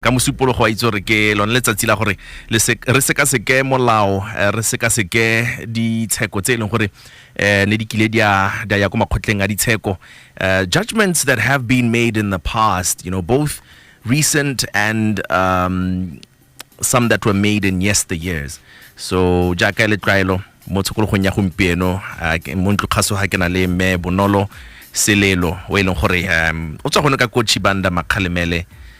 ka mosupologo wa itse gore ke lone letsatsi la gore re sekaseke molao eh, re sekaseke ditsheko tse e leng gore um ne di kile di a ya ko makgotleng a ditsheko eh, judgments that have been made in the past you know both recent and um, some that were made in yesteryears so jaaka le tlwaelo mo tshokologong ya gompieno mo ntlokgaso ga ke na le mme bonolo selelo o e leng gore um, o tswa gone ka kotšhi banda makgalemele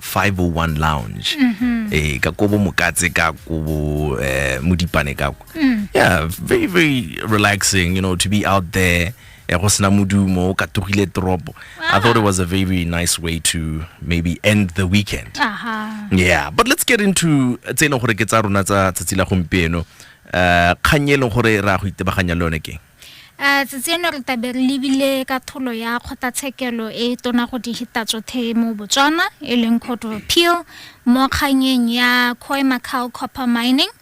501 lounge mm-hmm. eh ka kobo mokatse ka kobo eh modipane ka kwa mm. yeah very very relaxing you know to be out there ya go sena modumo o katogile toropo i thought it was a very, very nice way to maybe end the weekend uh -huh. yeah but let's get into tse e leng gore ke tsa rona tsa tsatsi la gompieno um kgang e leng gore ra go itebaganya le yone keng A tseno re tabe re lebile ka tholo ya kgotlatshekelo e tona go dihitatšothe mo Botswana e leng Court of Appeal mo kganyeng ya Khoi Macau Copper Mining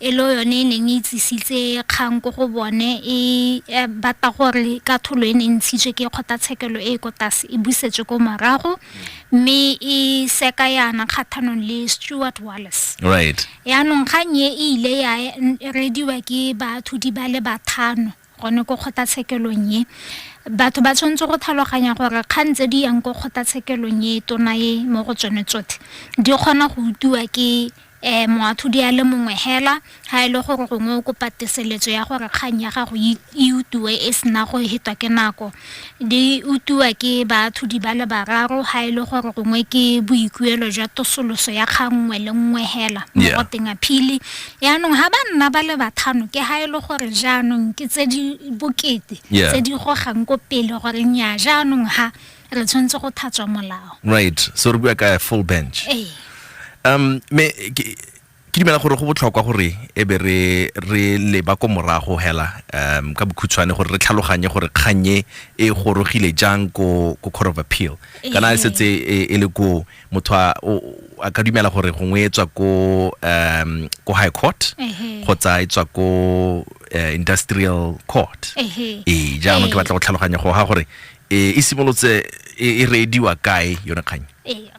e le yone e neng e tsisitse kgang ko go bone e e batla gore ka tholo e ne e ntshitswe ke kgotlatshekelo e e ko tlase e busetswe ko morago mme e seka yana kgathanong le Stuart Wallace right Yaanong kgang e e ile ya rediwa ke baathudi ba le bathano gone ko kgotlatshekelong e batho ba tshwanetse go tlhaloganya gore kgang tse di yang ko kgotlatshekelong e tona e mo go tsone tsotlhe di kgona go utiwa ke um moathodi a le mongwe hela ga e le gore gongwe o kopa teseletso ya gore kgang ya gago e utiwe e sena go hetwa ke nako Di utiwa ke baatlhodi ba le bararo ga e le gore gongwe ke boikuelo jwa tosoloso ya kgang nngwe le nngwe hela mo Yeah. goteng aphili yaanong ga ba nna ba le bathano ke ga e le gore jaanong ke tse di bokete Yeah. tse di gogang ko pele gore nya jaanong ha re tshwanetse go thatswa molao right so re bua ka full bench ee um me ke- ke dumela gore go botlhokwa gore e be re re leba ko morago hela um ka bokhutshwane gore re tlhaloganye gore kgannye e gorogile jang ko ko court of appeal kana e ee. setse e, e le ko motho a ka dumela gore gongwe e tswa ko um ko high court kgotsa e tswa ko eh, industrial court ee jaanong ke ee. batla go tlhaloganya go ga gore e, e simolotse e, e reediwa kae yone kgang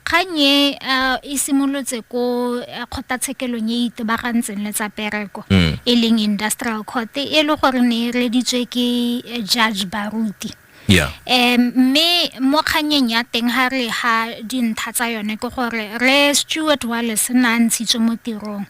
Kgang e e simolotse ko kgotatshekelong e e itebagantseng le tsa pereko e leng industrial court e le gore ne e reditswe ke judge baruti Yeah. um mme mo kganyeng ya teng ga re ga dintlha tsa yone ke gore re stewart wales na ntshitswe mo tirong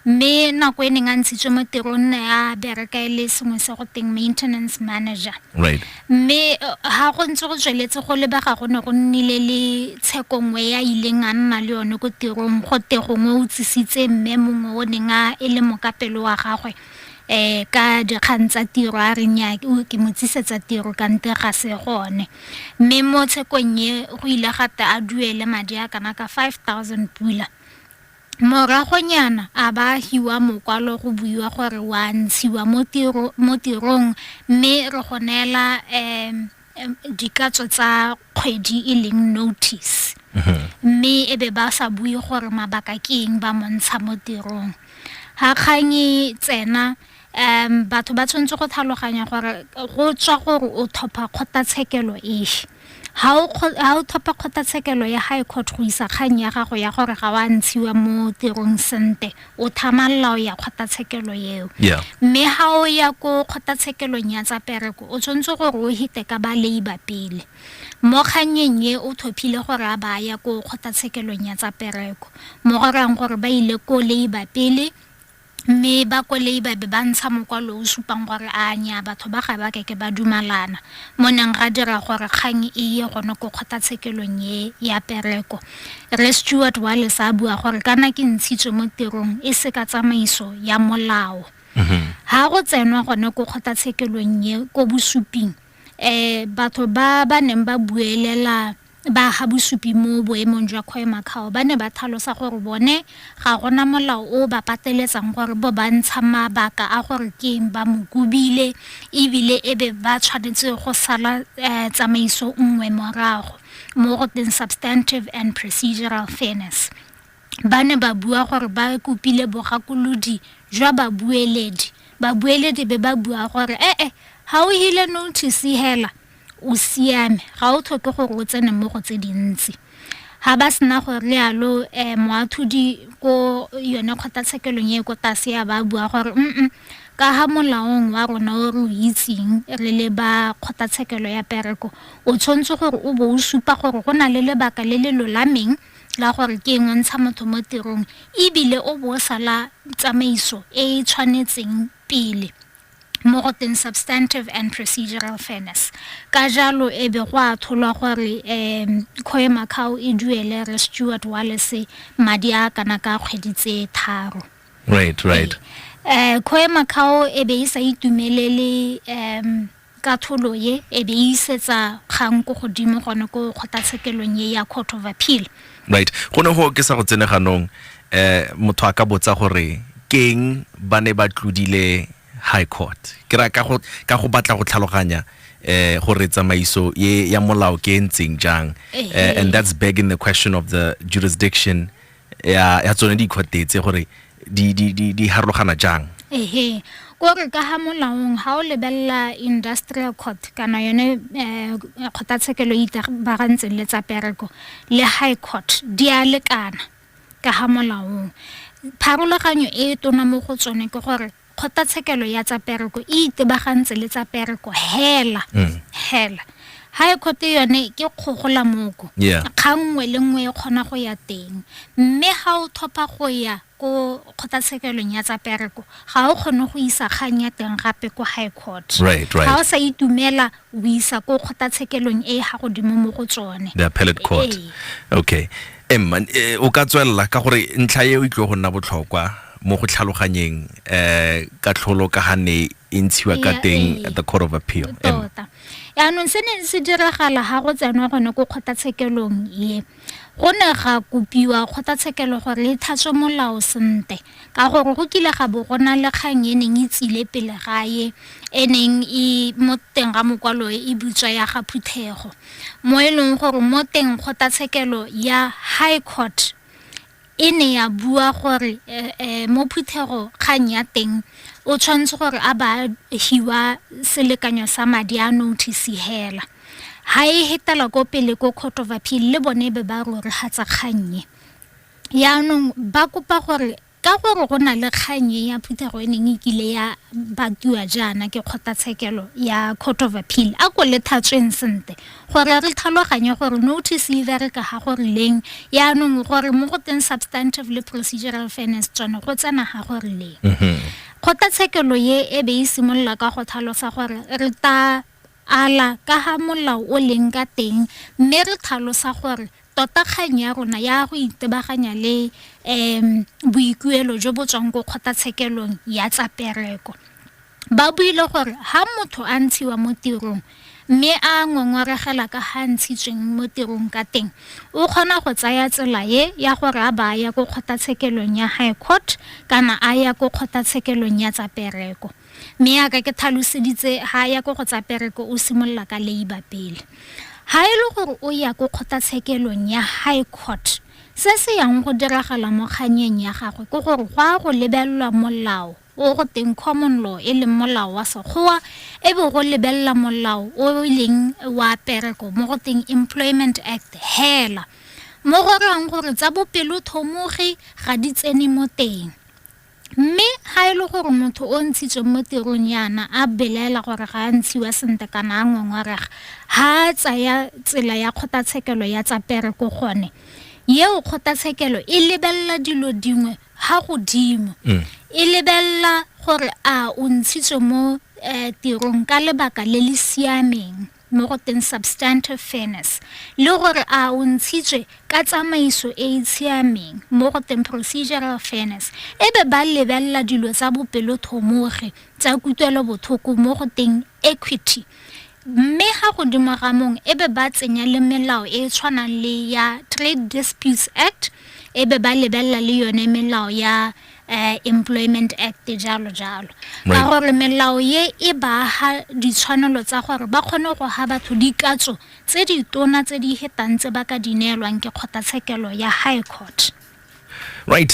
Mme nako e neng a ntshitswe mo tirong nna ya bereka e le sengwe se go teng maintenance manager. Right. Mme ha eh, go ntse go tsweletse go lebega go ne go nnile le tsheko nngwe ya ileng a nna le yone ko tirong go te gongwe o tsisitse mme mongwe o neng a e le mokapelo wa gagwe eh ka dikgang tsa tiro a reng ya ke mo tsisetsa tiro ka nte ga se gone mme mo tshekong e go ile gata a duele madi a kana ka 5000 pula Moragonyana a ba hiwa mokwalo go buiwa gore wa ntshiwa mo tiro mo tirong mme re go neela um dikatso tsa kgwedi e leng notice mme e be ba sa bue gore mabaka ke eng ba montsha mo tirong ga kgang e tsena um batho ba tshwanetse go tlhaloganya gore go tswa gore o thopha kgotlatshekelo efe ha o thopha kgotlatshekelo ya high court go isa kgang ya gago ya gore ga wa ntshiwa mo tirong sente o thamalala o ya kgotlatshekelo eo mme ha o ya ko kgotlatshekelong ya tsa pereko o tshwanetse gore o hite ka ba labor pele mo kgannyeng e o thophile gore a ba ya ko kgotlatshekelong ya tsa pereko mo gorang gore ba ile ko labor pele Mme bakwelei ba be ba ntsha mokwalo o o supang gore a nyaa batho ba ga ba ke ke ba dumalana mo neng ga dira gore kgang e ye gone ko kgotatshekelong e ya pereko. Rre Stewart Wallace a bua gore kana ke ntshitswe mo tirong e se ka tsamaiso ya molao. Ha go tsenwa gone ko kgotatshekelong e ko bosuping um batho ba ba neng ba buelela Ba ga Bosupi mo boemong jwa Khoemacau ba ne ba thalosa gore bone ga gona molao o o ba pateletsang gore bo ba ntsha mabaka a gore ke'ng ba mo kobile e bile e be ba tshwanetse go sala tsamaiso nngwe morago mo go teng substantive and procedural fairness. Ba ne ba bua gore ba kopile bogakolodi jwa babueledi, babueledi be ba bua gore e-e ga o hile notice hela. o siame ga o tlhoke gore o tsene mo go tse dintsi ga ba sena gore le yalo um eh, moathodi ko yone kgotlatshekelong e ko tlase ya ba bua gore mm ka ga molaong wa rona o re o itseng re le ba kgotlatshekelo ya pereko o tshwanetse gore o bo o supa gore go na le lebaka le le lolameng la gore ke engwe ntsha motho mo tirong ebile o bo o sala tsamaiso e e tshwanetseng pele mo go teng substantive and procedural fairness ka jalo e be go a tholwa gore um khoe macao e duele re stewart walese madi a kana ka kgwedi tse tharo right right um eh, khoe macao e be e sa itumelele um Katlholo ye e be e isetsa kgang ko godimo gone ko kgotatshekelong ye ya Court of Appeal. Right. Go ne go ke sa go tsene ganong um motho a ka botsa gore keng ba ne ba tlodile High Court. Ke ra ka go ka go batla go tlhaloganya um gore tsamaiso ye ya molao ke e ntseng jang um and that's begging the question of the jurisdiction ya ya tsone dikhotetse gore di di di di harologana jang ehe ko re ka ha molaong ha o lebella industrial court kana yone eh kgothatshekelo ita ba ga ntseng le tsa pereko le high court di a lekana ka ha molaong pharologanyo e tona mo go tsone ke gore Kgotatshekelo ya tsa pereko e itebagantse le tsa pereko hela mm. hela high court yone ke kgogola moko yeah. kgang nngwe le nngwe e kgona go ya teng mme ga o thopha go ya ko kgotatshekelong ya tsa pereko ga o kgone go isa kgang ya teng gape ko high court right, right. ga o sa itumela o isa ko kgotatshekelong e ga godimo mo go tsone the appellate court ee. okay emma eh, o ka tswelela ka gore ntlha e o itlwe go nna botlhokwa mo go tlhaloganyeng eh katlholo ka ga ne e ntshiwa ka teng at the court of appeal tota yaanong se ne se diragala ga go tsenwa gone ko kgotlatshekelong ye go ne ga kopiwa kgotlatshekelo gore e thatswe molao sente ka gore go kile ga bo go na le kgang e neng e tsile pele gae e neng e mo teng ga mokwalo e butswa ya ga phuthego mo e leng gore mo teng kgotlatshekelo ya high court e ne ya bua gore mo phuthego kgang ya teng o tshwanetse gore a ba hiwa selekanyo sa madi a notice hela ha e hetela ko pele ko court of appeal le bone be ba rore ga tsa kgannye yaanong ba kopa gore Ka gore go na le kgang e ya phuthego e neng e kile ya batiwa jaana ke kgotlatshekelo ya Court of Appeal, a ko le thatsweng sente gore re tlhaloganye gore notice e bereka ga go rileng, yaanong gore mo go teng substantive le procedural fairness tsone go tsena ga go rileng. Kgotlatshekelo ye e be e simolola ka go tlhalosa gore re ta ala ka ga molao o leng ka teng mme re tlhalosa gore Tota kgang ya rona ya go itebaganya le um boikuelo jo bo tswang ko kgotlatshekelong ya tsa pereko ba buile gore ha motho a ntshiwa mo tirong mme a ngongoregela ka ga ntshitsweng mo tirong ka teng o kgona go tsaya tsela e ya gore a ba a ya ko kgotlatshekelong ya high court kana a ya ko kgotlatshekelong ya tsa pereko Mme yaka ke thaloseditse ha ya ko go tsa pereko o simolola ka labour pele. Ha e le gore o ya ko kgotatshekelong ya high court se se yang go diragala mo kganyeng ya gagwe ke gore go a go lebelelwa molao o go teng common law e leng molao wa sekgowa e be go lebelela molao o e leng wa pereko mo go teng employment act hela mo go reyang gore tsa bopelothomogi ga di tsene mo teng Mme ga e le gore motho o ntshitsweng mo tirong yana a belaela gore ga a ntshiwa sentle kana a ngongorega, ga a tsaya tsela ya kgotlatshekelo ya tsa pereko gone, eo kgotlatshekelo e lebelela dilo dingwe ga godimo. E lebelela gore a o ntshitswe mo um tirong ka lebaka le le siameng. mo go teng substantive fairness le gore a o ntshitswe ka tsamaiso e e tshiameng mo go teng procedural fairness e be ba lebelela dilo tsa bopelothomogi tsa kutlwelobotlhoko mo go teng equity mme ga godimo ga mong e be ba tsenya le melao e e tshwanang le ya trade disputes act e be ba lebelela le yone melao ya uh, Employment Act jalo jalo ka gore melao ye e baaga ditshwanelo tsa gore ba kgone go ga batho dikatso tse di tona tse di hetang tse ba ka di neelwang ke kgotlatshekelo ya high court right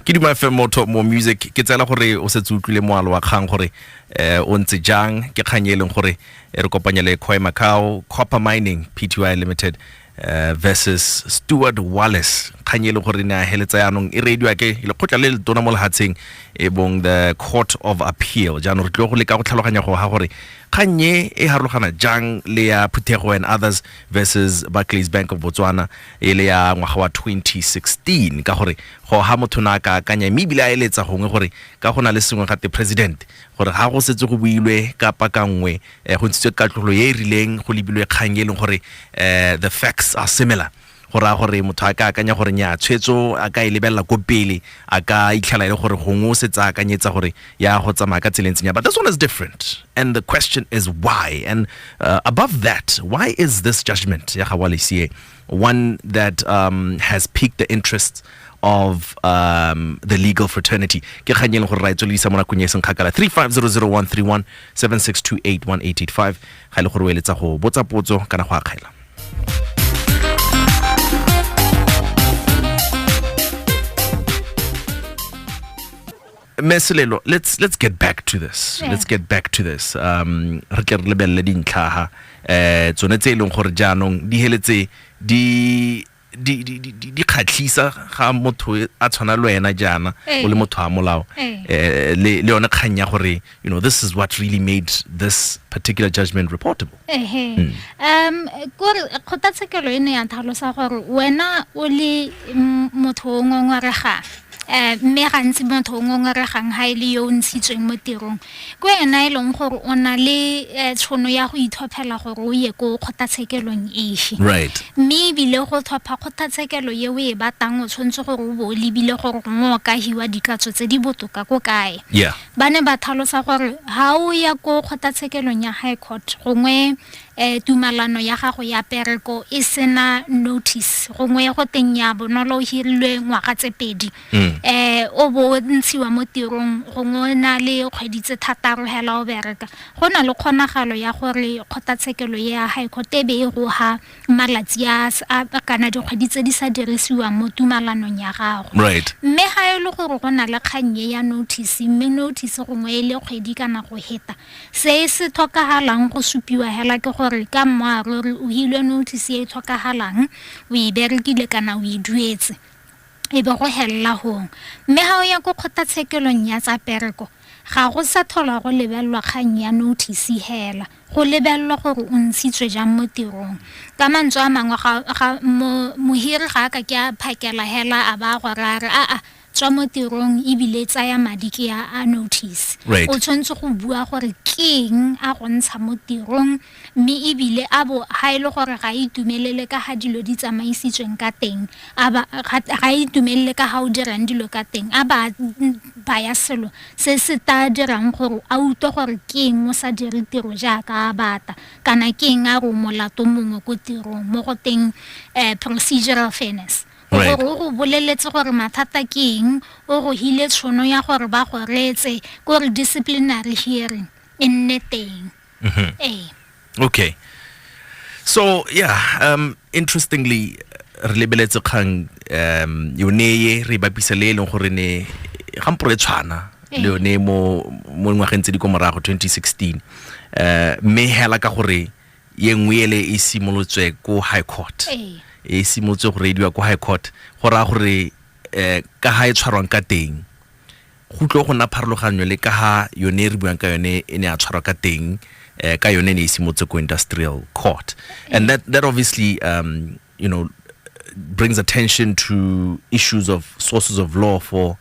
ke duma fm motho mo music ke tsela gore o setse utlwile moalo wa kgang gore eh o ntse jang ke kgang e leng gore e re kopanya le Khoi Macau Copper Mining Pty Limited Eh, versus steward wallace kgang e le gore ne a heletsa yaanong e reediwa ke lekgotla le le tona mo lehatsheng e bong the court of appeal jaanong re tlile go leka go tlhaloganya go ga gore kgang e e harologana jang le ya phuthego and others versus barclays bank of botswana e le ya ngwaga wa 2016 ka gore go ga motho na ka akanya mme ebile a eletsa gongwe gore ka go na le sengwe gate president gore ga go setse go builwe kapa ka nngwe eh, go ntshitswe katlogolo e e rileng go lebilwe kgang e leng gore eh, the facts are similar go raya gore motho a ka akanya gore nya tshwetso a ka e lebelela ko pele a ka itlhela e le gore gongwe o setse a akanyetsa gore ya go tsamaya ka tseleng tsenya but this one is different and the question is why and uh, above that why is this judgment ya ga walesie one that um, has piqued the interest of um, the legal fraternity ke kgang e leng gore ra e tswelelisa mo nakong e seng kgakala 3500131 76281885 ga e le gore o eletsa go botsa potso kana go akgela meselelo let's let's get back to this yeah. let's get back to this um re tle re lebelele dintlhaga eh tsone tse e leng gore jaanong di heletse di di di di di khatlisa ga motho e, a tshwana le wena jaana o le motho a molao eh le le yone kganya gore you know this is what really made this particular judgment reportable ehe hmm. um kore kgotlatshekelo e ne ya tlhalosa gore wena o le motho o ngongoregang um mme gantsi motho o ngongoregang ga e le yo o ntshitsweng mo tirong ko ena e leng gore o na le eh, tshono ya go itlhophela gore o ye ko kgotlatshekelong efe mme ebile go tlhopha kgotlatshekelo ye o e batang o tshwanetse gore o bo o lebile gore gongwe o ka hiwa dikatso tse di botoka ko kae Ba ne ba tlhalosa gore ga o ya ko kgotatshekelong ya High Court gongwe um tumalano ya gago ya pereko e sena notice gongwe go teng ya bonolo o hirilwe ngwaga tse pedi um o bo o ntshiwa mo tirong gongwe o na le kgwedi tse thataro hela o bereka go na le kgonagalo ya gore kgotatshekelo ya High Court e be e goga malatsi a s- a- kana dikgwedi tse di sa dirisiwang mo tumalanong ya gago Right. mme ga e le gore go na le kgang e ya notice mme notice gongwe e le kgwedi kana go heta se se tlhokagalang go supiwa hela ke gore ka mmoaruri o hilwe notice e e tlhokagalang o e berekile kana o e duetse e be go helela gong mme ga o ya ko kgotlatshekelong ya tsa pereko ga go sa tlhola go lebelelwa kgang ya notice hela go lebelelwa gore o ntshitswe jang mo tirong ka mantswe a mangwe mohiri ga a ka ke a phakela hela a ba a gore a re a-a tswa mo tirong ebile tsaya madi ke ya a notice o tshwanetse go bua gore keng a go ntsha mo tirong mme ebile a bo ga e le gore ga e itumelele ka ga dilo di tsamaisitsweng ka teng ga e itumelele ka ga o dirang dilo ka teng a ba baya selo se se tla dirang gore a utlwe gore ke eng o sa dire tiro jaaka a bata kana ke eng a re o molato mongwe ko tirong mo go teng um procedural fairness gore o go boleletse gore mathata ke eng o go hile tshono ya gore ba go reetse ko re disciplinary hearing e nne teng Mhm. Ee. okay so yeah um interestingly re lebeletse kgang um yone ye re e bapisa le e leng gore ne gampo re tshwana le Ee. yone mo mo ngwageng tse di ko morago 2016 um mme hela ka gore ye nngwe ele e simolotswe ko high court Ee. e simolotse go reidiwa ko high court go raya gore um ka ga e tshwarwang ka teng go tlo go nna pharologanyo le ka ha yone e re buang ka yone e ne a tshwarwa ka teng eh, ka yone e ne e simotse ko industrial court and that, that obviously um, you know brings attention to issues of sources of law for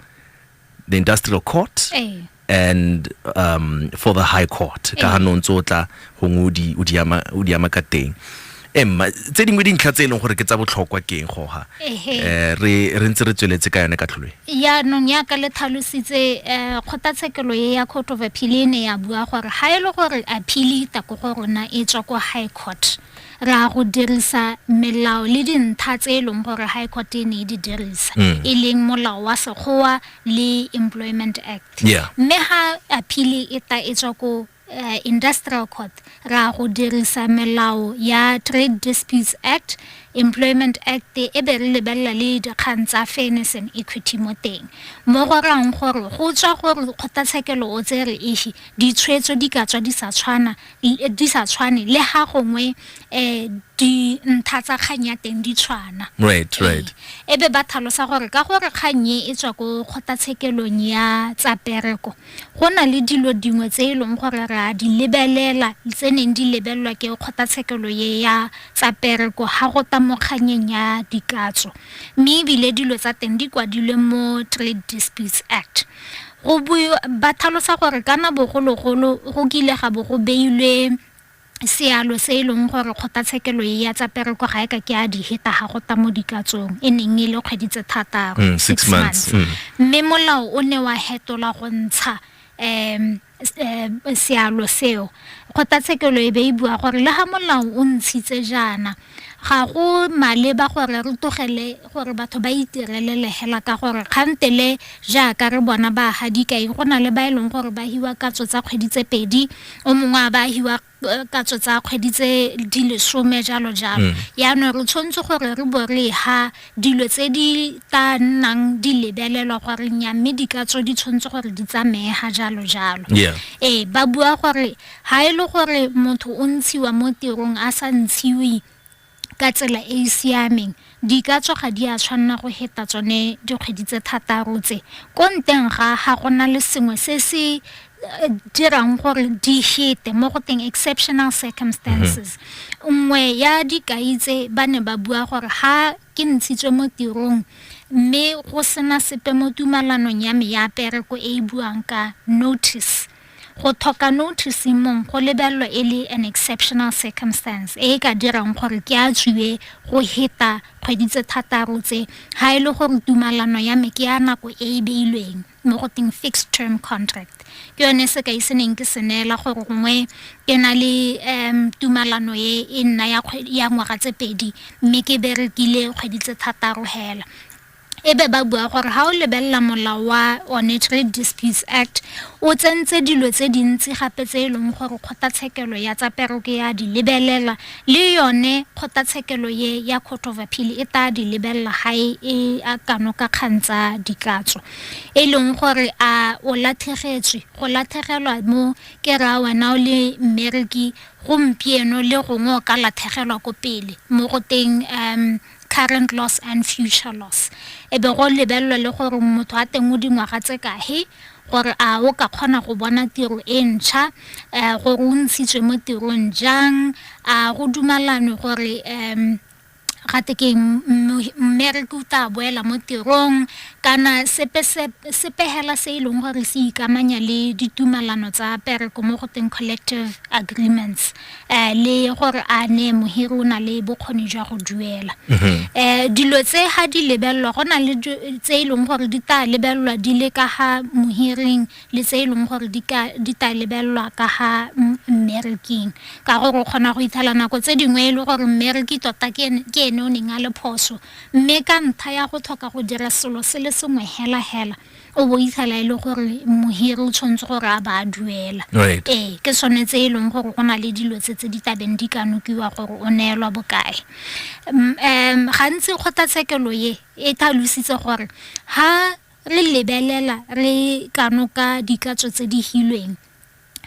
the industrial court Eh. and um, for the high court ka ha no ntse o tla gongwe o di- o di ama- o di ama ka teng emma tse dingwe dintlha tse e leng gore ke tsa botlhokwa keng goga um re ntse re tsweletse ka yone ka tlholwe yaanong yaka le tlhalositse um kgotlatshekelo e ya court of appeal e ne ya bua gore ga e le gore appeal e tako go rona e tswa ko high court ra go dirisa melao le dintlha tse e leng gore high court e ne e di dirisa mm. e leng molao wa sekgowa le employment act mme ga appeal e ta e tswa ko uh, industrial court ra go dirisa melao ya trade disputes act employment act e be re lebelela le dikgang tsa fairness and equity mo teng mo go rang gore go tswa gore kgotlatshekelo o tse re efe ditshwetso di ka tswa di sa tshwana eh, di sa tshwane le ga gongwe um di ntha tsa kgang ya teng di tshwana right eh, right e be ba tlhalosa gore ka gore kgang e e tswa ko kgotlatshekelong ya tsa pereko Go na le dilo dingwe tse e leng gore re a di lebelela tse neng di lebelelwa ke kgotlatshekelo ye ya tsa pereko ga go ta mo kganyeng ya dikatso mme ebile dilo tsa teng di kwadilwe mo Trade Disputes Act go ba tlhalosa gore kana bogologolo go kile ga bo go beilwe sealo se e leng gore kgotlatshekelo e ya tsa pereko ga e ka ke a di heta ga go ta mo dikatsong e neng e le kgwedi tse thataro mm, six months mm. mme molao o ne wa hetola go ntsha um sealo seo kgotlatshekelo e be e bua gore le ga molao o ntshitse jaana Ga go maleba gore re togele gore batho ba itirelele hela ka gore kgantele jaaka re bona ba ha dikai go na le ba e leng gore ba hiwa katso tsa kgwedi tse pedi o mongwe a ba hiwa eh, katso tsa kgwedi tse di lesome jalo jalo mm. yaanong re tshwanetse gore re bo re ha dilo tse di tla nnang di lebelelwa goreng ya mme dikatso di tshwanetse gore di tsameye ga jalo jalo ee ba bua gore Ga e le gore motho o ntshiwa mo tirong a sa ntshiwe ka tsela e e siameng, dikatso ga di a tshwanna go heta tsone dikgwedi tse thataro tse. Ko nteng ga, ga go na le sengwe se se dirang gore di hete mo go teng exceptional circumstances. Nngwe ya dikai tse ba ne ba bua gore ga ke ntshitswe mo tirong mme go sena sepe mo tumalanong ya me ya pereko e e buang ka notice, Go thoka notice mong go lebelelwa e le an exceptional circumstance e e ka dirang gore ke a tswiwe go heta kgwedi tse thataro tse ha e le gore tumalano ya me ke ya nako e e beilweng mo go teng fixed term contract ke yone sekai se neng ke se neela gore gongwe ke na le um tumalano e e nna ya ngwaga tse pedi mme ke berekile kgwedi tse thataro hela e be ba bua gore ga o lebelela molao wa one trade disputes act o tsentse dilo tse dintsi gape tse e leng gore kgotlatshekelo ya tsa peroko ya di lebelela le yone kgotlatshekelo ye ya court of appeal e tla di lebelela ga e, e a kano ka kgang tsa dikatso e leng gore a o latlhegetswe go latlhegelwa mo ke raya wena o le mmereki gompieno le gongwe o ka latlhegelwa ko pele mo go teng um current loss and future loss e be go lebelelwa le gore motho a teng o dingwaga tse kahe gore a o ka kgona go bona tiro e ntšha um gore o ntshitswe mo tirong jang a go dumalanwe gore um ga te ke mmereke o tla boela mo tirong kana sepegela se e leng gore se ikamanya le ditumalano tsa pereko mo go teng collective agreements le gore a ne mohiri o na le bokgoni jwa go duela um dilo tse ga di lebelelwa go na le tse e leng gore di tla lebelelwa di le ka ga mohiring le tse e leng gore di tla lebelelwa ka ga mmereking ka gore o kgona go ithala nako tse dingwe e le gore mmereki tota ke ene o neng a le phoso mme ka ntlha ya go tlhoka go dira selo se le sengwe hela hela o bo itshala e le gore mohiri o tshwanetse gore a ba a duela ee ke sone tse e leng gore go na le dilo tse tse di tabeng di ka nokiwa gore o neelwa bokae um gantsi kgotlatshekelo ye e tlhalositse gore ha re lebelela re ka noka dikatso tse di hilweng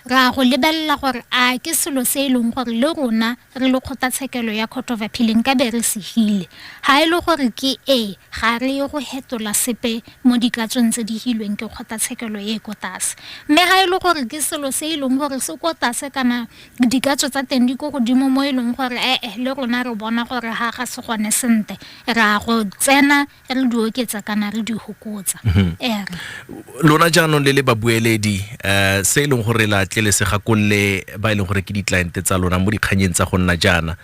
ra go lebelela gore a ke selo se e leng gore le rona re le kgotlatshekelo ya court of appealing ka be re se hile ga e le gore ke e ga re ye go hetola sepe mo ditlatsong tse di hilweng ke kgotlatshekelo e e ko tlase mme ga e le gore ke selo se e leng gore se ko tlase kana dikatso tsa teng di ko godimo mo e leng gore ee le rona re bona gore ga ga se gone sentle ra go tsena re di oketsa kana re di hokotsa mhm. ere lona jaanong le le babueledi um se e leng gore la tlelesega kolle ba e leng gore ke di-cliente tsa lona mo dikganyeng tsa go nna jaana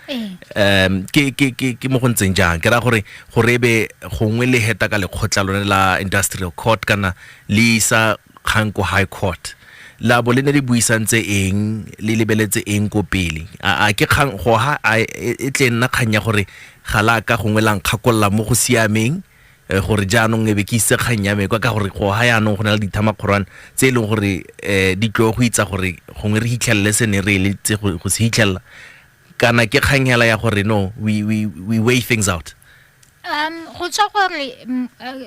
um ke mo go ntseng jang ke raya gore gore ebe gongwe le heta ka lekgotla lone la industrial court kana le isa kgang ko high court labo le ne le buisantse eng le lebeletse eng ko pele a ke kgang go ha e, e tle nna kgang ya gore ga la ka gongwe la nkgakolola mo go siameng eh, gore jaanong e be ke ise kgang ya mekwa ka gore go ha yaanong go na le dithamakgorwane tse e leng gore um di tlo go itsa gore gongwe re hitlhelele se ne re eletse go se hitlhelela kana ke kganyela ya gore no we, we, we weigh things out Um go tswa gore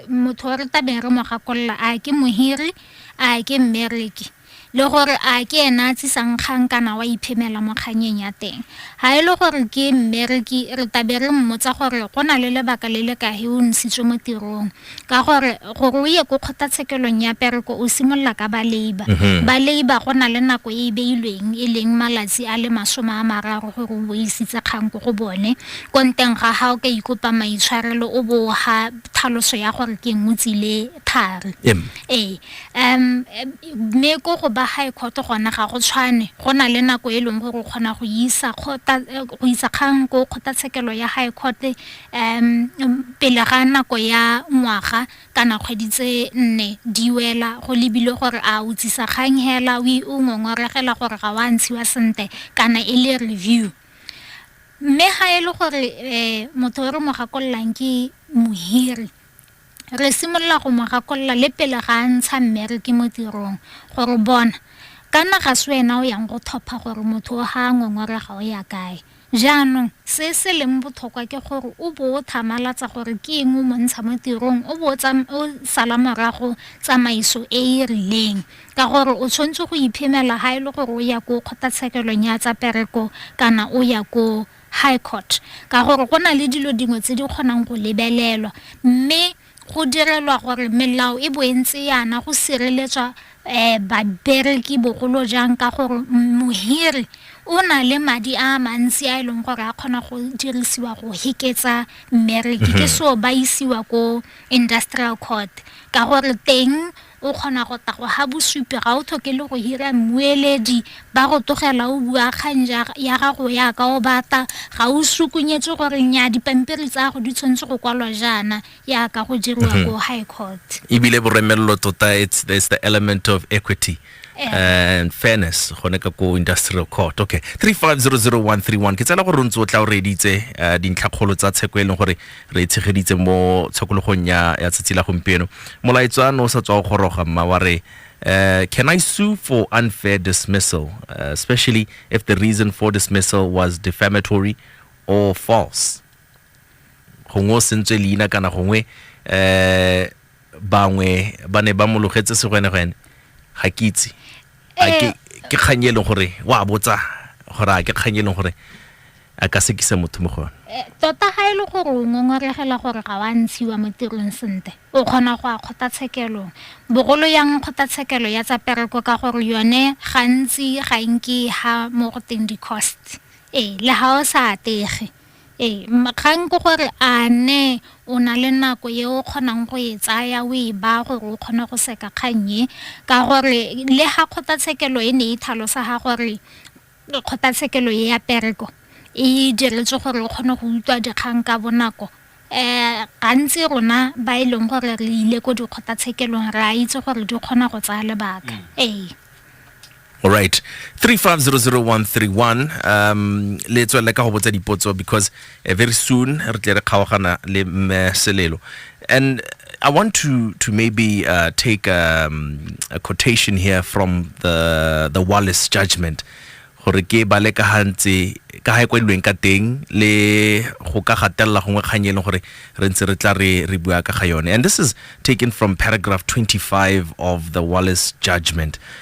motho wa re tabere mo gakolola a ke mohiri a ke mmereki le gore a ke ena a tsisang kgang kana wa iphemela mo kganyeng ya teng ga e le gore ke mmereki re tabere mmotsa gore go na le lebaka le le ka he o ntshitswe mo tirong ka gore gore o ye ko kgothatshekelong ya pereko o simolola ka ba labor mhm. ba labor go na le nako e e beilweng e leng malatsi a le masome a mararo gore o boisitse kgang ko go bone Ko nteng ga ha o ka ikopa maitshwarelo o bo o ga thaloso ya gore ke eng o tsile thari. Em. Ee. Um, mme ko go ba high court gona ga go tshwane. Go na le nako e leng gore o kgona go isa kgota, eh, go isa kgang ko kgotlatshekelo ya high court um pele ga nako ya ngwaga kana kgwedi tse nne di wela go lebile gore a o tsisa kgang hela o i- o ngongoregela gore ga wa ntshiwa sente kana e le review. mme ga e le gore um motho o re mo gakololang ke mohiri re simolola go mo gakolola le pele ga a ntsha mmereke mo tirong gore bona kana ga se wena o yang go thopha gore motho o ga a ngongorega o ya kae jaanong se se leng botlhokwa ke gore o bo o thamalatsa gore ke eng o montsha mo tirong o bo o sala morago tsamaiso e e rileng ka gore o tshwanetse go iphemela ha e le gore o ya ko kgotlatshekelong ya tsa pereko kana o ya ko high court ka gore go na le dilo dingwe tse di kgonang go lebelelwa mme go direlwa gore melao e bo e ntse yana go sireletswa eh babereki bogolo jang ka gore mohiri o na le madi a mantsi a e leng gore a kgona go dirisiwa go heketsa mmereki ke mhm. so ba isiwa ko industrial court ka gore teng O kgona go tla go ha bosupi ga o tlhoke le go hira mmueledi ba go tlogela o bua kgang ya gago yaka o batla ga o sukunyetswe gore nya dipampiri tsa go di tshwanetse go kwalwa jaana yaka go diriwa mhm. ko high court ebile boremelelo tota it's there's the element of equity eh. and fairness gone ka ko industrial court okay 3500131 ke tsela gore o ntse o tla o reditse eh, dintlhakgolo tsa tsheko e leng gore re e tshegeditse mo tshokologong ya ya tsatsi la gompieno molaetswa no o sa tswa go goroga mma wa re Uh, can I sue for unfair dismissal, uh, especially if the reason for dismissal was defamatory or false? gongwe o sentswe leina kana gongwe um bangwe ba ne ba mologetse segwenegwene ga ke itse a ke Eh. ke kgang e leng gore wa botsa gore a ke kgang e leng gore a ka sekisa motho mo go yone Eh, tota ga e le gore o ngongoregela gore ga wa ntshiwa mo tirong sentle o kgona go a kgotlatshekelong bogolo yang kgotlatshekelo ya tsa pereko ka gore yone gantsi ga e nke ha mo go teng di-cost ee le ga o sa atege Ee, kgang ke gore a ne o na le nako e o kgonang go e tsaya o e baya gore o kgone go seka kgang e ka gore le ga kgotlatshekelo e ne e tlhalosa ga gore kgotlatshekelo e ya pereko e diretswe gore o kgone go utlwa dikgang ka bonako um gantsi rona ba e leng gore re ile ko dikgotlatshekelong re a itse gore di kgona go tsaya lebaka ee. Alright. 35001331 um le tswelele ka go botsa dipotso because uh, very soon re tle re kgaogana le mme Selelo. And I want to to maybe uh, take um, a quotation here from the the Wallace judgment. gore ke bale ka gantse ka ga e kwadilweng ka teng le go ka gatelela gongwe kgang e leng gore re ntse re tla re re bua ka ga yone and this is taken from paragraph 25 of the wallace judgment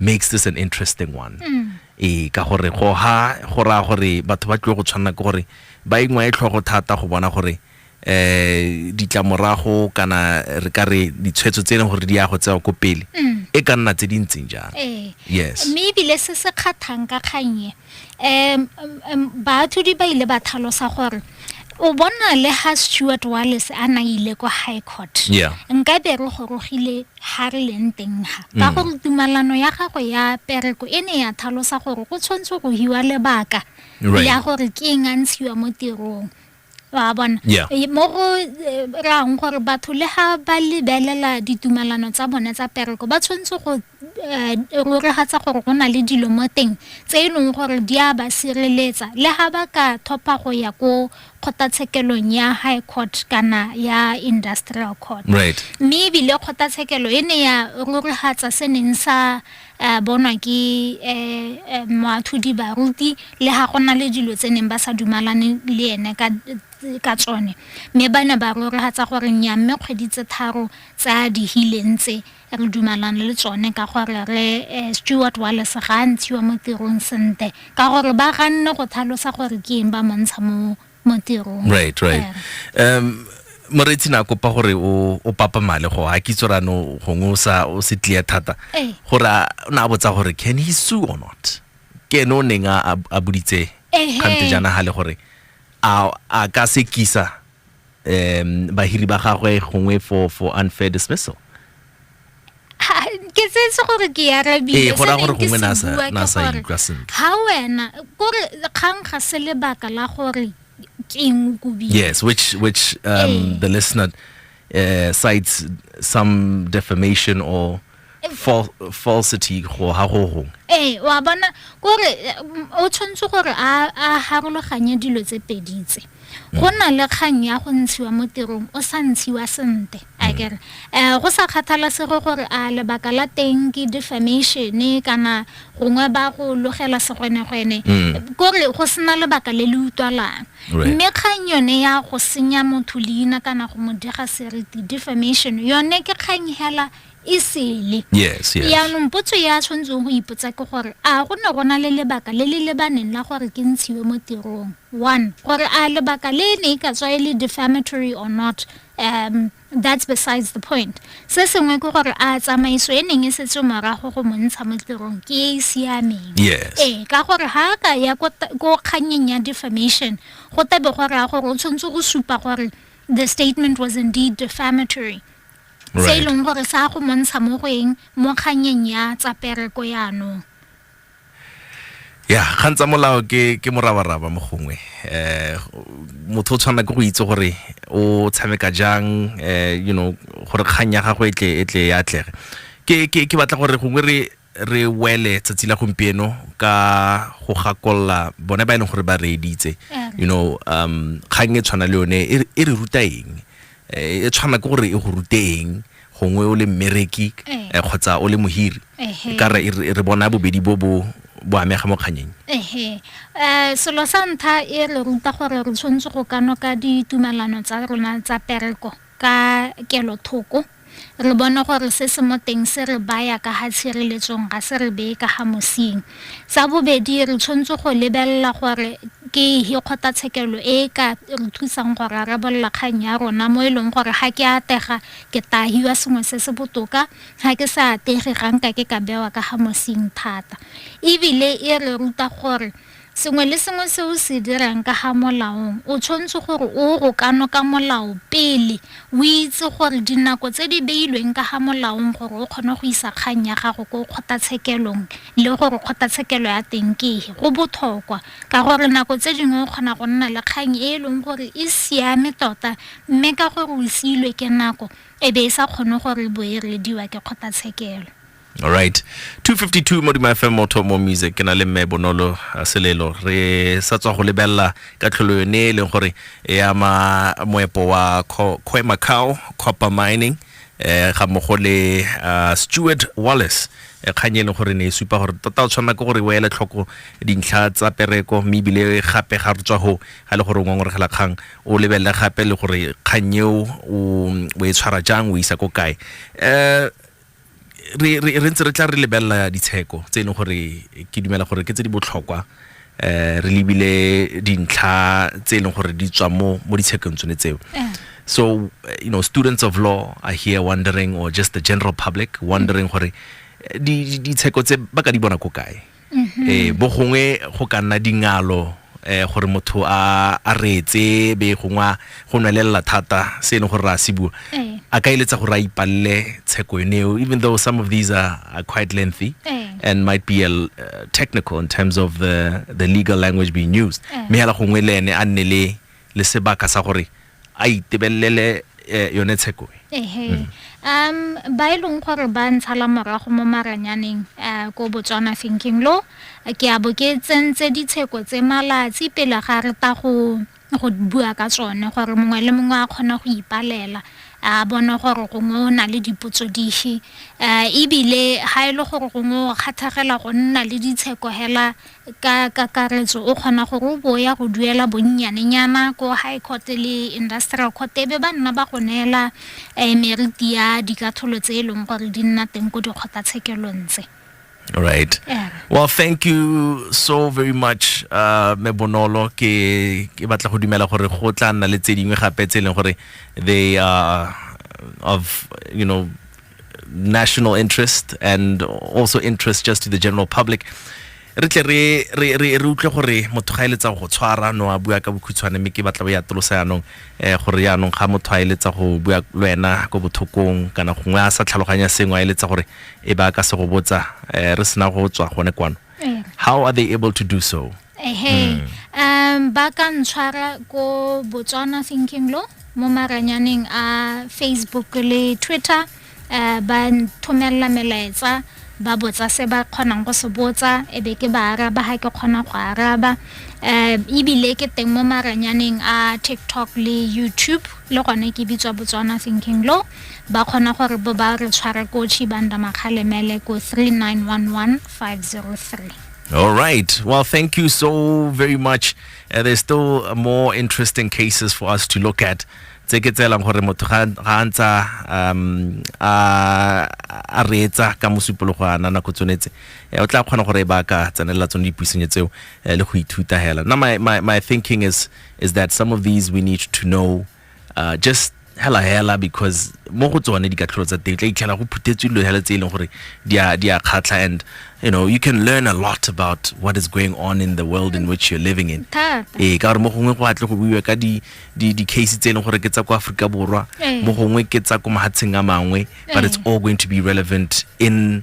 makes this an interesting one mm. ee ka gore go ha go raya gore batho ba tlile go tshwanela ke gore ba engwa e tlhogo thata go bona gore eh ditlamorago kana re ka re ditshwetso tse e leng gore di ya go tsewa ko pele mm. e ka nna tse di ntseng jang ee. yes mme ebile se se kgathang ka kgannye um baatlhodi ba ile ba tlhalosa gore o bona le ha stewart wallis a na ile ko high court Yeah. nka be re gorogile ha re leng teng ha ka Mm. gore tumalano ya gago ya pereko e ne ya tlhalosa gore go tshwanetse go hiwa lebaka Right. ya gore ke eng a ntshiwa mo tirong wa bona yeah. Eh, mo go eh, rang gore batho le ga ba lebelela ditumelano tsa bone tsa pereko ba tshwanetse go eh, roregatsa gore go na le dilo mo teng tse e leng gore di a ba sireletsa le ga ba ka thopa go ya ko kgotlatshekelong ya high court kana ya industrial court right. mme ebile kgotlatshekelo e ne ya roregatsa se neng sa a bonwa ke um moatlhodi baruti le ga go na le dilo tse neng ba sa dumalane le ene ka ka tsone mme ba ne ba rorogatsa gore nya mme kgwedi tse tharo tsa dihileng tse re dumalana le tsone ka gore re um stewart walles ga a ntshiwa mo tirong sente ka gore ba ganne go thalosa gore ke eng ba montsha mo mo tirong right right um moreitsi na kopa gore o o papa male go ha kitso rano gongwe o sa o se tlia thata eh. gore a na botsa gore can he sue or not ke no neng a a buditse kante jana ha le gore a a ka se kisa um bahiri ba gagwe gongwe for for unfair dismissal ke tsetse gore ke arabile go raya gore gongwe na sa ikutlwa sentle ga wena kore kgang ga se lebaka la gore ke eng kobile yes which which um, eh. the listener uh, cites some defamation or eh. Fal falsity go ha go gong ee eh, wa bona kore o tshwanetse gore a harologanye dilo tse pedi tse go na le kgang ya go ntshiwa mo tirong o sa ntshiwa sente a mm. kere um go sa kgathalasego gore a lebaka la teng ke defamatione kana gongwe ba go logela segwenegwene mm. kore go sena lebaka le le utlwalang mme kgang yone ya go senya motho leina kana go mo dega seriti defamation yone ke kgang hela e sele yes yes yaanong potso e a tshwanetseng go ipotsa ke gore a go ne go na le lebaka le le lebaneng la gore ke ntshiwe mo tirong one gore a lebaka le e ne e ka tswa e le defamatory or not um that's besides the point se sengwe ke gore a tsamaiso e neng e setse morago go mo ntsha mo tirong ke e e siameng Yes. ee ka gore ga a ka ya ko ta- ko kgannyeng ya defamation go tabe go raya gore o tshwanetse go supa gore the statement was indeed defamatory se e leng gore sa go montsha mo go eng mo kganyeng ya tsa pereko yaanong ya kgang tsa molao ke ke morabaraba mo gongwe eh motho o tshwana ke go itse gore o tshameka jang eh you know gore kgang ya gago e tle e tle ya atlege ke ke ke batla gore gongwe re re wele tsatsi la gompieno ka go gakolola bone ba e leng gore ba reeditse you know um kgang e tshwana le yone e re- e re ruta eng Eh, e tshwana ke gore e go rute eng gongwe o le mmereki Eh. eh, kgotsa o le mohiri Ehe. ka re e re- re bona bobedi bo bo bo amega mo kganyeng ehe um selo sa ntlha e re ruta gore re tshwanetse go ka noka ditumelano tsa rona tsa pereko ka kelothoko Re bone gore se se mo teng se re baya ka ga tshireletsong, ga se re beye ka ga mosing. Sa bobedi, re tshwanetse go lebelela gore ke ehe kgotlatshekelo e e ka re thusang go rarabolola kgang ya rona mo e leng gore ga ke atega ke taa hiwa sengwe se se botoka, ga ke sa atege ga nka ke ka bewa ka ga mosing thata. Ebile e re ruta gore Sengwe le sengwe se o se dirang ka ga molaong o tshwanetse gore o go kano ka molao pele o itse gore dinako tse di beilweng ka ga molaong gore o kgone go isa kgang ya gago ko kgotatshekelong le gore kgotatshekelo ya teng ke e go botlhokwa ka gore nako tse dingwe o kgona go nna le kgang e e leng gore e siame tota mme ka gore o siilwe ke nako e be e sa kgone gore bo e reediwa ke kgotatshekelo. alright 252 mo dima fm motho mo music ke na le mme bonolo a selelo re sa tswa go lebelela ka tlholo yone e leng gore e ama moepo wa Kho- khoe macao copper mining eh ga mmogo le ah, stewart wallace eh, kgang e leng gore ne e supa gore tota o tshwanela ke gore o ele tlhoko dintlha tsa pereko mme ebile gape ga re tswa go ga e le gore o ngongoregela kgang o lebelele gape le gore kgang eo o o e tshwara jang o e isa ko kae um re re re ntse re tla re lebelela ditsheko tse e leng gore ke dumela gore ke tse di botlhokwa eh re lebile dintlha tse e leng gore di tswa mo mo ditshekong tsone tseo so eh, you know students of law are here wondering or just the general public wondering gore eh, di di- ditsheko tse ba ka di bona ko kae eh bo gongwe go ka nna dingalo eh gore motho a a reetse be gongwe a go nwelelela thata se e leng gore re a se bua Eh. a ka eletsa gore a ipalele tsheko yone eo even though some of these are, are quite lengthy Eh. and might be a, l- uh, technical in terms of the, the legal language being used Eh. mme hela gongwe le ene a nne le le sebaka sa gore a itebelele eh, yone tsheko e ehe mm. um ba e leng gore ba ntshala morago mo maranyaneng uh, ko botswana thinking lo ke a bo ke tsentse ditsheko tse malatsi pele ga re ta go go bua ka tsone gore mongwe le mongwe a kgona go ipalela a bona gore gongwe o na le dipotso dife um ebile ga e le gore gongwe o kgathagela go nna le ditsheko hela Ka kakaretso, o kgona gore o bo o ya go duela bonnyanenyana ko High Court le Industrial Court e be ba nna ba go neela meriti ya dikatlholo tse e leng gore di nna teng ko dikgotlatshekelong tse. All right. Yeah. Well, thank you so very much uh, me bonolo ke ke batla go dumela gore go tla nna le tse dingwe gape tse e leng gore they are of you know national interest and also interest just to the general public re tle re re re re utlwe gore motho ga eletsa go tshwara no a bua ka bokhutshwane mme ke batla bo ya tolosa yanong eh gore yanong ga motho a eletsa go bua le wena go bothokong kana gongwe a sa tlhaloganya sengwe a eletsa gore e ba ka se go botsa eh, re sena go tswa gone kwano eh. how are they able to do so ehe mm. um ba ka ntshwara ko botswana thinking lo mo maranyaneng a facebook le twitter um ba nthomelela melaetsa ba botsa se ba kgonang go se botsa e be ke ba araba ga ke kgona go araba um ebile ke teng mo maranyaneng a tiktok le youtube le gone ke bitswa botswana thinking low ba kgona gore bo ba re tshware ko chibanda makgalemele ko 3911503 All right. Well, thank you so very much. Uh, there's still more interesting cases for us to look at. tse ke tseelang gore motho ga a ntsa um a reetsa ka mosupologo ana nako tsonetse eh, o tla kgona gore e ba ka tsenelela tsone dipuisenyo tseo eh, le go ithuta hela now my, my, my thinking is, is that some of these we need to know uh, just hela hela because mo go tsone dikatlholo tsa teng tla itlhela go phuthetswe dilo hela tse e leng gore di a kgatlha and you know you can learn a lot about what is going on in the world in which you're living in ee ka gore mo gongwe go atle go buiwa ka di-case tse e leng gore ke tsa ko aforika borwa ee. mo gongwe ke tsa ko mahatsheng a mangwe but it's ee. all going to be relevant in